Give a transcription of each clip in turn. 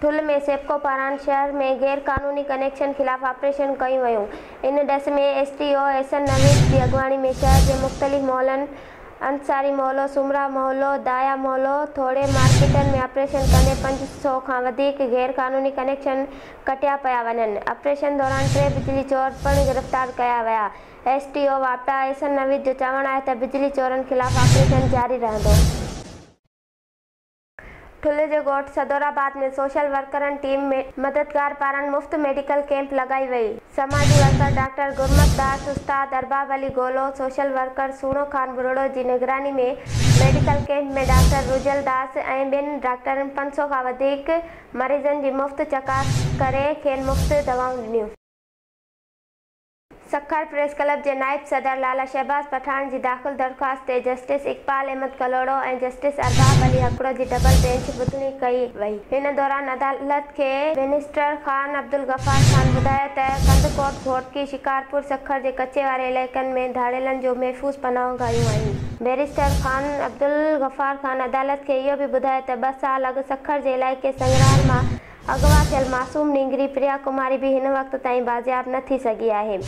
ٺل ۾ سيپڪو پاران شهر ۾ غير قانوني ڪنيڪشن خلاف آپريشن ڪيون ويون، ان ڏس ۾ ايس ٽي او احسن نويد جي اڳواڻي ۾ شهر جي مختلف محلن انصاري محلو، سومرا محلو، دايا محلو، ٿوڙهي مارڪيٽن ۾ آپريشن ڪندي پنج سؤ کان وڌيڪ غير قانوني ڪنيڪشن ڪٽيا پيا وڃن، آپريشن دوران ٽي بجلي چور پڻ گرفتار ڪيا ويا، ايس ٽي او واپڊا احسن نويد جو چوڻ آهي ته بجلي چورن خلاف آپريشن جاري رهندو. ٺلهه جي ڳوٺ صدورآباد ۾ سوشل ورڪرن ٽيم ۾ مددگار پاران مفت ميڊيڪل ڪيمپ لڳائي وئي، سماجي ورڪر ڊاڪٽر گرمت داس، استاد ارباب علي گولو، سوشل ورڪر سهڻو خان ٻرڙو جي نگراني ۾ medical camp ۾ doctor Rajal Das ۽ ٻين ڊاڪٽرن پنج سؤ کان وڌيڪ مريضن جي مفت چڪاس ڪري کين مفت دوائون ڏنيون. سکر پريس ڪلب جي نائب صدر لالا شهباز پٺاڻ جي داخل درخواست تي جسٽس اقبال احمد ڪلهوڙو ۽ جسٽس ارباب علي هڪڙو جي ڊبل بينچ ٻڌڻي ڪئي وئي. ان دوران عدالت کي منسٽر خان عبدالغفار خان ٻڌايو ته ڪنڌڪوٽ، گهوٽڪي، شڪارپور، سکر جي ڪچي واري علائقن ۾ ڌاڙيلن جون محفوظ پناهون گاهيون آهن. بئريسٽر خان عبدالغفار خان عدالت کي اهو به ٻڌايو ته ٻه سال اڳ سکر جي علائقي سنگرار مان اغوا ٿيل معصوم نينگري پريا ڪماري به هن وقت تائين بازياب نه ٿي سگهي آهي.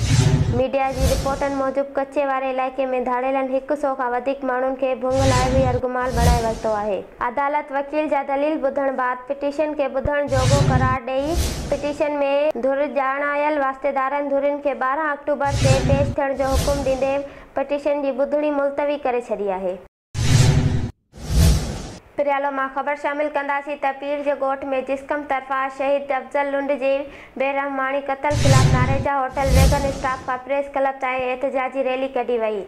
ميڊيا جي رپورٽن موجب ڪچي واري علائقي ۾ ڌاڙيلن هڪ سؤ کان وڌيڪ ماڻهن کي ڀنگ لاء وي يرغمال بڻائي ورتو آهي. عدالت وڪيل جا دليل ٻڌڻ بعد پٽيشن کي ٻڌڻ جوڳو قرار ڏئي پٽيشن ۾ ڌر ڄاڻايل واسطيدارن ڌرين کي ٻارهن آڪٽوبر تي پيش ٿيڻ جو حڪم ڏيندي پٽيشن جي ٻڌڻي ملتوي ڪري ڇڏي آهي. پريالو مان خبر شامل ڪنداسين ته پير جي ڳوٺ ۾ جسقم طرفان شهيد افضل لنڊ جي بي رحماڻي قتل خلاف ناريجا هوٽل ويگن اسٽاف کان پريس ڪلب تائين احتجاجي ريلي ڪڍي وئي.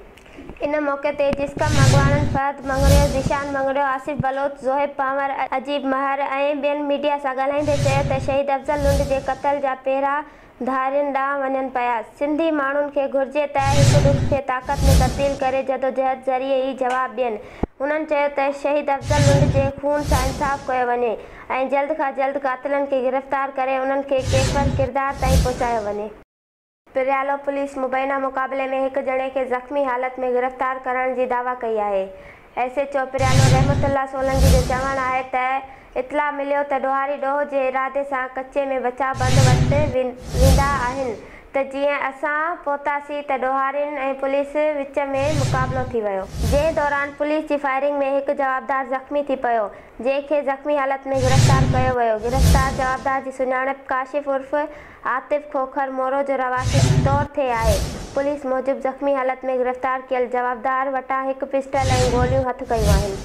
ان موقعي تي جسقم اڳواڻن فهد مڱريو، ذيشان مڱريو، آصف بلوچ، زوهيب پنهور، عجيب مهر ۽ ٻين ميڊيا سان ڳالهائيندي چيو ته شهيد افضل لنڊ جي قتل جا پهرا ڌارين ڏانهن وڃن پيا. سنڌي ماڻهن کي گهرجي ته هڪ ڏک کي طاقت ۾ تبديل ڪري جدوجهد ذريعي ئي جواب ڏين. هنن چيو ته شهيد افضل لنڊ جي خون سان انصاف ڪيو وڃي ۽ جلد کان جلد قاتلن کي گرفتار ڪري انهن کي ڪيفر ڪردار تائين پهچايو وڃي. پريالو پوليس مبينا مقابلي ۾ هڪ ڄڻي کي زخمي حالت ۾ گرفتار ڪرڻ جي دعويٰ ڪئي آهي. ايس ايڇ او پريانو رحمت الله سولنگي جو چوڻ آهي ته اطلاع مليو ته ڏوهاري ڏوهه جي ارادي سان ڪچي ۾ بچاء بند وٽ ويندا آهن ته جيئن اسان پهتاسين ته ڏوهارين ۽ پوليس وچ ۾ مقابلو ٿي ويو، جنهن دوران پوليس جي فائرنگ ۾ هڪ جوابدار زخمي ٿي پيو، جنهن کي زخمي حالت ۾ گرفتار ڪيو ويو، گرفتار جوابدار جي سڃاڻپ ڪاشف عرف عاطف کوکر مورو جو رهواسي چتور ٿي آهي، پوليس موجب زخمي حالت ۾ گرفتار ڪيل جوابدار وٽان هڪ پسٽل ۽ گوليون هٿ ڪيون آهن.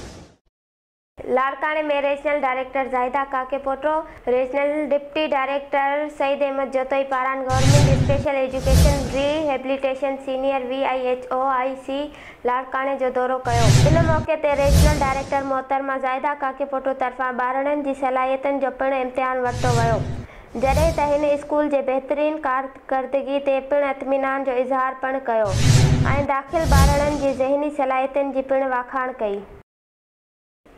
لاڙڪاڻي ۾ regional director Zahida Kakepoto, regional deputy director Saeed Ahmed Jatoi پاران government special education rehabilitation senior V I H O I C لاڙڪاڻي جو دورو ڪيو. ان موقعي تي ريجنل ڊائريڪٽر محترمه زاهده ڪاڪيپوٽو طرفان ٻارڙن جي صلاحيتن جو پڻ امتحان ورتو ويو. جڏهن ته هن اسڪول جي بهترين ڪارڪردگي تي پڻ اطمينان جو اظهار پڻ ڪيو ۽ داخل ٻارڙن جي ذهني صلاحيتن جي پڻ واکاڻ ڪئي.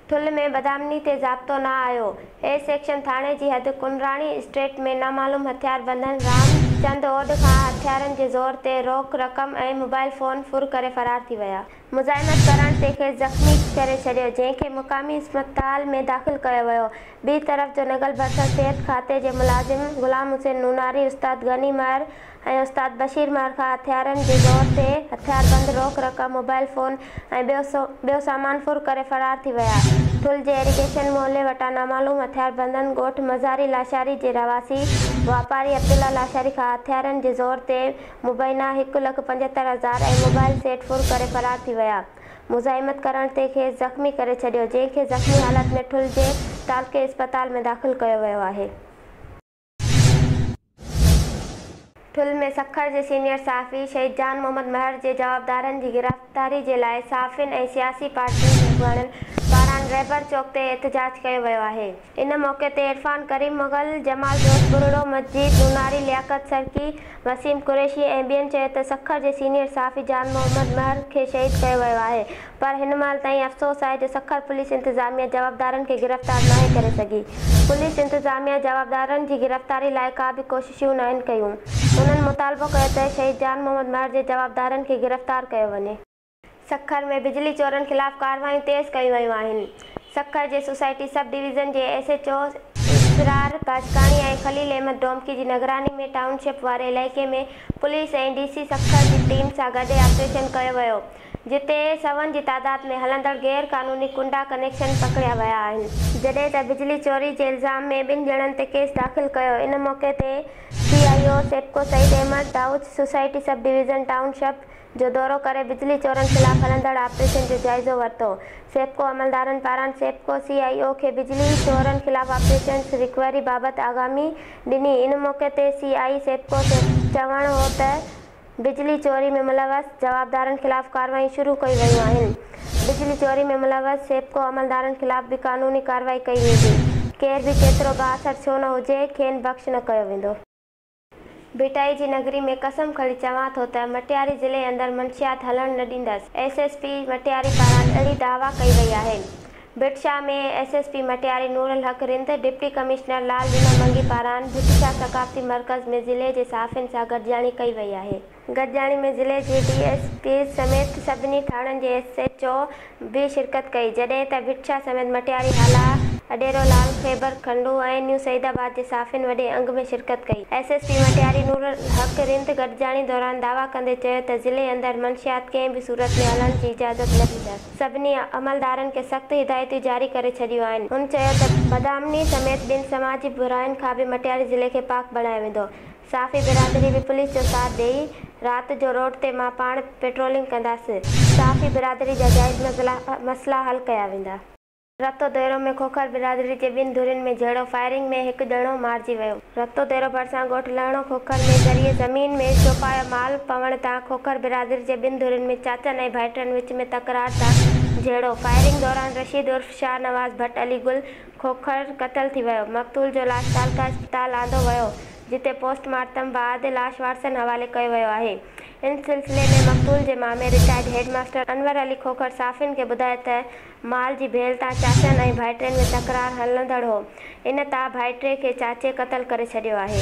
ٺل ۾ بدامني تي ضابطو نه آيو، اي سيڪشن ٿاڻي جي حد ڪنراڻي اسٽريٽ ۾ نامعلوم هٿيار بندن رام چند اوڏ کان هٿيارن جي زور تي روڪ رقم ۽ موبائل فون ڦر ڪري فرار ٿي ويا، مزاحمت ڪرڻ تي کيس زخمي ڪري ڇڏيو جنهن کي مقامي اسپتال ۾ داخل ڪيو ويو ٻي طرف جونگل ڀرسان صحت کاتي جي ملازم غلام حسين نوناري استاد غني مهر ۽ استاد بشير مهر کان هٿيارن جي زور تي هٿياربند روڪ رقم موبائل فون ۽ ٻيو سامان ڦر ڪري فرار ٿي ويا ٺل جي ايريگيشن محلي وٽان نامعلوم هٿياربندن ڳوٺ مزاري لاشاري جي رهواسي واپاري عبدالله لاشاري کان هٿيارن جي زور تي مبينا هڪ لک پنجهتر هزار ۽ موبائل سيٽ ڦر ڪري فرار ٿي ويا. مزاحمت ڪرڻ تي کيس زخمي ڪري ڇڏيو، جنهن کي زخمي حالت ۾ ٺل جي تعلقي اسپتال ۾ داخل ڪيو ويو آهي. ٺل ۾ سکر جي سينيئر صحافي شهيد جان محمد مهر جي جوابدارن جي گرفتاري جي لاء صحافين ۽ سياسي پارٽين جي اڳواڻن پاران رهبر چوڪ تي احتجاج ڪيو ويو آهي. ان موقعي تي عرفان ڪريم مغل، جمال دوست ٻرڙو، مجيد نوناري، لياقت سرڪي، وسيم قريشي ۽ ٻين چيو ته سکر جي سينيئر صحافي جان محمد مهر کي شهيد ڪيو ويو آهي پر هن مهل تائين افسوس آهي جو سکر پوليس انتظاميا جوابدارن کي گرفتار ناهي ڪري سگهي پوليس انتظاميا جوابدارن جي گرفتاري لاء ڪا به ڪوششون ناهن ڪيون هنن مطالبو ڪيو ته شهيد جان محمد مهر جي جوابدارن کي گرفتار ڪيو وڃي. سکر ۾ بجلي چورن خلاف ڪارروايون تيز ڪيون ويون آهن، سکر جي سوسائٽي سب ڊويزن جي S H O Israr Bajkani ۽ Khalil Ahmed Domki جي نگراني ۾ ٽائون شپ واري علائقي ۾ پوليس ۽ ڊي سي سکر جي ٽيم سان گڏي آپريشن ڪيو ويو جتي سون جي تعداد ۾ هلندڙ غير قانوني ڪنڊا ڪنيڪشن پڪڙيا ويا آهن. جڏهن ته بجلي چوري جي الزام ۾ ٻن ڄڻن تي ڪيس داخل ڪيو، ان موقعي تي C I A O SEPCO Saeed Ahmed Dawach, society sub division township جو دورو ڪري بجلي چورن خلاف هلندڙ آپريشن جو جائزو ورتو، سيپڪو عملدارن پاران سيپڪو سي آء او کي بجلي چورن خلاف آپريشنز رڪوري بابت آگامي ڏني، ان موقعي تي سي آء اي سيپڪو جو چوڻ هو ته بجلي چوري ۾ ملوث جوابدارن خلاف ڪارروائيون شروع ڪيون ويون آهن، بجلي چوري ۾ ملوث سيپڪو عملدارن خلاف به قانوني ڪارروائي ڪئي ويندي، ڪير به ڪيترو به آٿر ڇو نه هجي کين بخش نه ڪيو ويندو. ڀٽائي جي نگري ۾ قسم کڻي چوان ٿو ته مٽياري ضلعي اندر منشيات هلڻ نه ڏيندس، ايس ايس پي مٽياري پاران اهڙي دعويٰ ڪئي وئي آهي. Bhit Shah ۾ S S P Matiari Noor ul Haq Rind, deputy commissioner Lal Rina Mangi پاران ڀٽ شاهه ثقافتي مرڪز ۾ ضلعي جي صحافين سان گڏجاڻي ڪئي وئي آهي. گڏجاڻي ۾ ضلعي جي ڊي ايس پي سميت سڀني ٿاڻن جي ايس ايڇ او به شرڪت ڪئي جڏهن ته ڀٽ شاهه سميت مٽياري هالا، اڏيرو لال، خيبر کنڊو ۽ نيو سعيد آباد جي صحافين وڏي انگ ۾ شرڪت ڪئي. S S P Matiari Noor ul Haq Rind گڏجاڻي دوران دعويٰ ڪندي چيو ته ضلعي اندر منشيات ڪنهن به صورت ۾ هلڻ جي اجازت نه ڏيندس سڀني عملدارن کي سخت هدايتون جاري ڪري ڇڏيون آهن هن چيو ته بدامني سميت ٻين سماجي براين کان به مٽياري ضلعي کي پاڪ بڻايو ويندو صحافي برادري به پوليس جو ساٿ ڏئي، رات جو روڊ تي مان پاڻ پيٽرولنگ ڪنداسين، صحافي برادري جا جائز مسئلا حل ڪيا ويندا. رتو ديرو ۾ کوکر برادري جي ٻن ڌرين ۾ جهيڙو، فائرنگ ۾ هڪ ڄڻو مارجي ويو. رتو ديرو ڀرسان ڳوٺ لهڻو کوکر ۾ ذريعي زمين ۾ چوپايا مال پوڻ تان کوکر برادري جي ٻن ڌرين ۾ چاچن ۽ ڀائٽن وچ ۾ تڪرار تان جهيڙو، فائرنگ دوران رشيد عرف شاهنواز ڀٽ علي گل، کوکر قتل ٿي ويو، مقتول جو لاش ڪالڪا اسپتال آندو ويو، جتي پوسٽ مارٽم بعد لاش وارثن حوالي ڪيو ويو آهي. ان سلسلي ۾ مقتول جي مامي retired head master Anwar Ali Khokhar صحافين کي ٻڌايو ته مال جي ڀيل تان چاچن ۽ ڀائٽين ۾ تڪرار هلندڙ هو، ان تان ڀائٽي کي چاچي قتل ڪري ڇڏيو آهي.